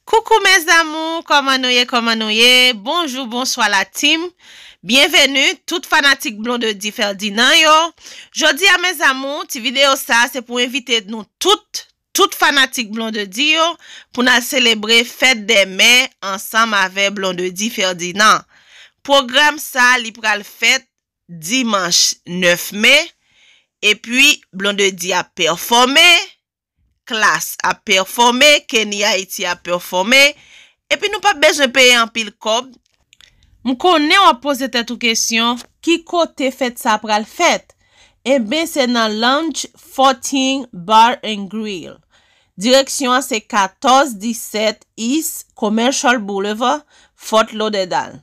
Coucou mes amours koman nou ye koman nou ye bonjou bonswa la team byenveni tout fanatik Blondedy Ferdinand yo jodi a mes amours ti video sa se pou envite nou tout tout fanatik Blondedy yo pou nal selebre fèt dè mè ansanm avè Blondedy Ferdinand pwogram sa li pral fèt dimanch 9 me epi Blondedy ap pèfòme Klass ap pèfòme, Kenny Haiti ap pèfòme, epi nou pap bezwen peye anpil kòb. M konnen w ap poze tèt ou kesyon, ki kote fèt sa pral fèt? Enben se nan Lounge 14 Bar and Grill. Direksyon an se 1417 East Commercial Boulevard, Fort Lauderdale.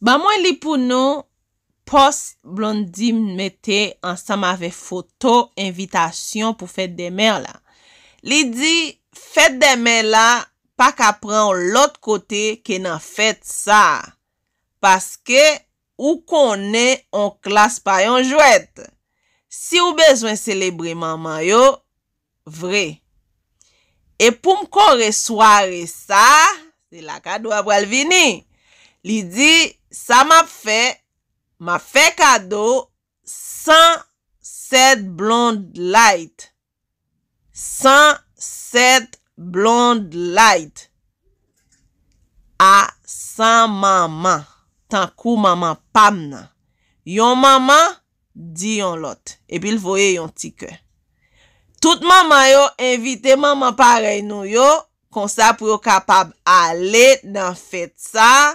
Ban mwen li pou nou Pòs Blondie mete ansanm avèk foto envitasyon pou Fête des Mères la. Li di Fête des Mères la pa ka pran w lòt kote ke nan fèt sa a paske ou konnen on klas pa yon jwèt. Si w bezwen selebre manman yo, vre. E pou m kore sware sa, se la kado a pral vini. Li di, Sa m ap fè, m ap fè kado 107 Blonde Light. 107 Blonde Light. A 100 manman, tankou manman pa m nan. Yon manman di yon lòt epi l voye yon ti kè. Tout manman yo envite manman parèy nou yo konsa pou yo kapab ale nan fèt sa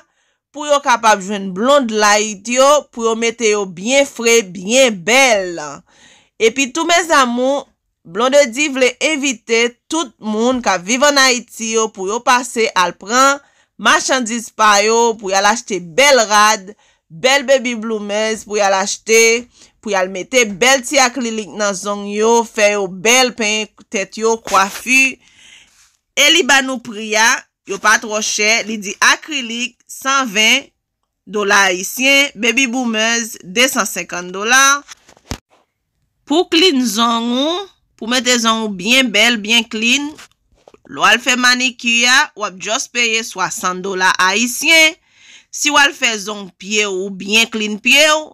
pou yo kapab jwenn blond light yo pou yo mete yo byen fre byen bèl epi tou mes amours Blondedy vle envite tout moun k ap viv an Ayiti yo pou yo pase al pran machandiz pa yo pou y al achte bèl rad, bèl baby bloomers pou y al achte, pou y al mete bèl ti aklilik nan zong yo, fè yo bèl, penyen tèt yo, kwafi. E li ba nou pri a, yo pa twò chè, li di akrilik, 120, Dola ayisyen, Baby Boomers 250 dola. Pou klin zong ou, Pou mete zong ou byen bèl, byen klin, lè w al fè manikir a, w ap just peye 60 dola ayisyen. Si w al fè zong pye w ou byen klin pye w,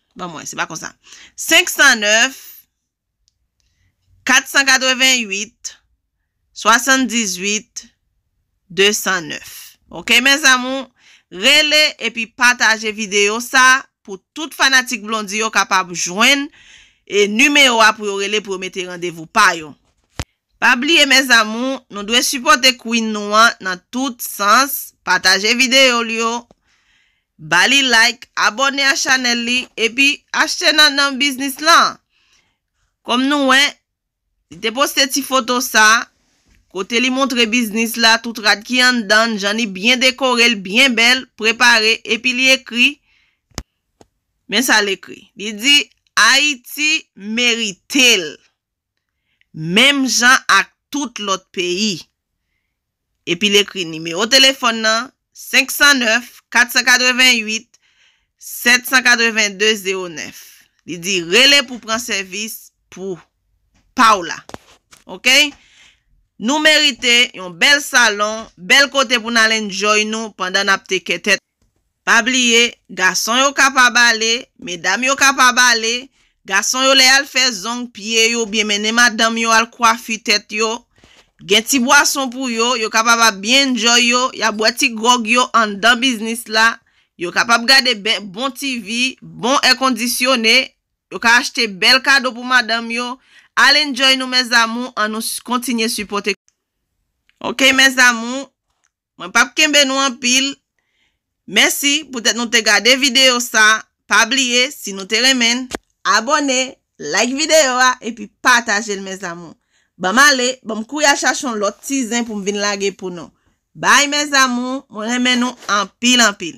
Ban mwen, se pa konsa. 509 488 78 209. Ok mes amour, rele epi pataje video sa pou tout fanatik Blondie yo kapab jwenn e numero a pou yo rele pou yo mete randevou pa yo. Pa bliye mes amour, nou dwe sipote Queen nou an nan tout sans, pataje video l yo Ba li like, abòne a chanèl li epi achte nan nan biznis lan. Kòm nou wè, li te poste ti foto sa, kote li montre biznis la, tout rad ki anndan l, jan li byen dekore l, byen bèl, prepare, epi li ekri, men sa l ekri, li di, Ayiti merite l! menm jan ak tout lòt peyi. Epi l ekri nimewo telefòn nan 509 488 782 09. Li di rele pou pran sèvis pou pa w la. Ok. Nou merite yon bèl salon, bèl kote pou n al enjoy nou pandan n ap tekè tèt. Pa bliye, gason yo kapab ale, medam yo kapab ale, gason yo lè y al fè zong, pye yo oubyen mennen madanm yo al kwafi tèt yo, gen ti bwason pou yo, yo kapab ap byen enjoy yo, y ap bwè ti gròg yo anndan biznis la, yo kapab gade bè bon TV, bon èkondisyone, yo ka achte bèl kado pou madanm yo, al enjoy nou mes amour an nou kontinye sipòte ok mes amour Mwen pap kenbe nou anpil. Mèsi poutèt nou te gade videyo sa, pa bliye si nou te renmen n, abòne, like videyo a epi pataje l mes amour. Banm ale, banm kouri al chache yon lòt ti zen pou m vin lage pou nou. Bye mes amour, mwen renmen nou anpil anpil.